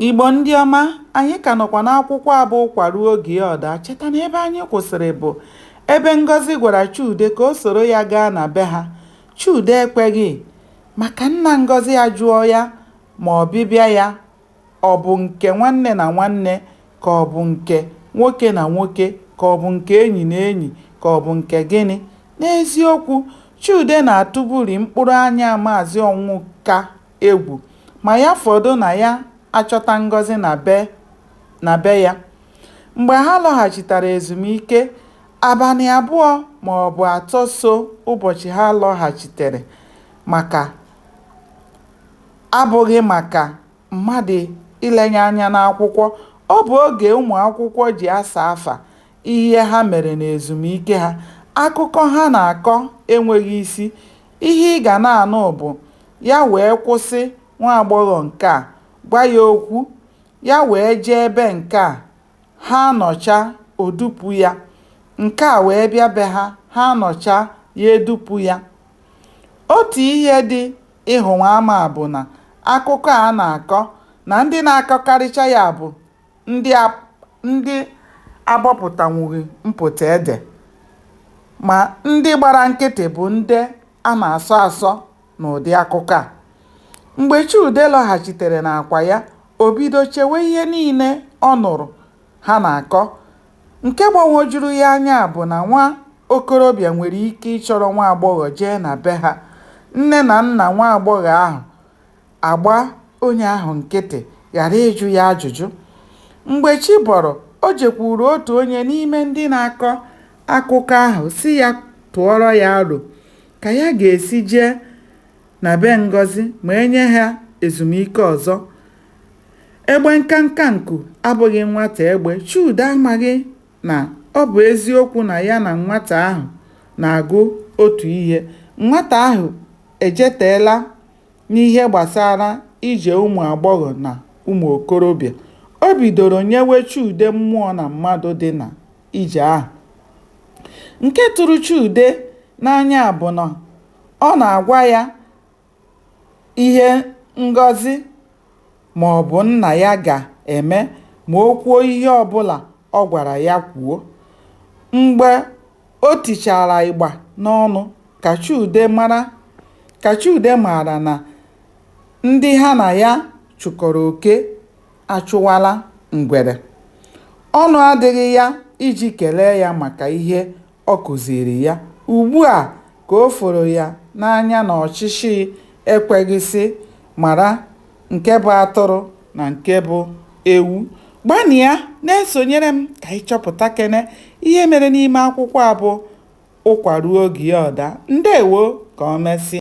Igbo ndị ọma, anyị ka nọkwa n'akwụkwọ a bụ Ụkwa Ruo Oge Ọ Daa. Cheta na ebe anyị kwụsịrị bụ ebe Ngozi gwara Chude ka o soro ya gaa na be ha. Chude ekweghị maka nna Ngozi ajụọ ya ma ọbịbịa ya ọ bụ nke nwanne na nwanne ka ọ bụ nke nwoke na nwoke ka ọ bụ nke enyi na enyi ka ọ bụ nke gịnị. N'eziokwu, Chude na-atụbụrị mkpụrụ anya Maazị Ọnwụka egwu ma ya fọdụ na ya achọta Ngozi na be ya. Mgbe ha lọghachitara ezumike, abalị abụọ ma ọ bụ atọ so ụbọchị ha lọghachitere maka abụghị maka mmadụ ilenye anya n'akwụkwọ, ọ bụ oge ụmụ akwụkwọ ji asa afa ihe ha mere n'ezumike ha. Akụkọ ha na-akọ enweghị isi, ihe ị ga na-anụ bụ ya wee kwụsị nwa agbọghọ nke a, gwa ya okwu, ya wee jee ebe nke a, ha anọcha o dupu ya, nke a wee bịa be ha, ha anọcha ya edupu ya. Otu ihe dị ịhụwa ama bụ na akụkọ a na-akọ na ndị na-akọkarịcha ya bụ ndị agbapụtanwughị mpụta ede ma ndị gbara nkịtị bụ ndị a na-asọ asọ n'ụdị akụkọ a. Mgbe Chude lọghachitere n'akwa ya, o bido chewe ihe niile ọ nụrụ ha na-akọ. Nke gbagwojuru ya anya bụ na nwa okorobịa nwere ike ịchọrọ nwa agbọghọ jee na be ha, nne na nna nwa agbọghọ ahụ agba onye ahụ nkịtị ghara ịjụ ya ajụjụ. Mgbe chi bọrọ, o jekwuru otu onye n'ime ndị na-akọ akụkọ ahụ sị ya tụọrọ ya aro ka ya ga-esi jee na be Ngozi ma e nye ha ezumike ọzọ. Egbe nkanka nku abụghị nwata egbe, Chude amaghị na ọ bụ eziokwu na ya na nwata ahụ na-agụ otu ihe, nwata ahụ ejeteela n'ihe gbasara ije ụmụ agbọghọ na ụmụ okorobịa, o bidoro nyewe Chude mmụọ na mmadụ dị na ije ahụ. Nke tụrụ Chude n'anya bụ na ọ na-agwa ya ihe Ngozi ma ọ bụ nna ya ga-eme ma o kwuo ihe ọbụla Ọ gwara ya kwuo. Mgbe o tichara igba n'ọnụ ka Chude mara ka Chude maara na ndị ha na ya chụkọrọ oke achụwala ngwere. Ọnụ adịghị ya iji kelee ya maka ihe Ọ kụziiri ya. Ugbu a ka o foro ya n'anya na ọchịchị ekweghị sị mara nke bụ atụrụ na nke bụ ewu. Gbanịa na-esonyere m ka anyị chọpụtakene ihe mere n'ime akwụkwọ a bụ Ụkwa Ruo Oge Ya Ọ Daa. Ndewo! Ka o mesịa.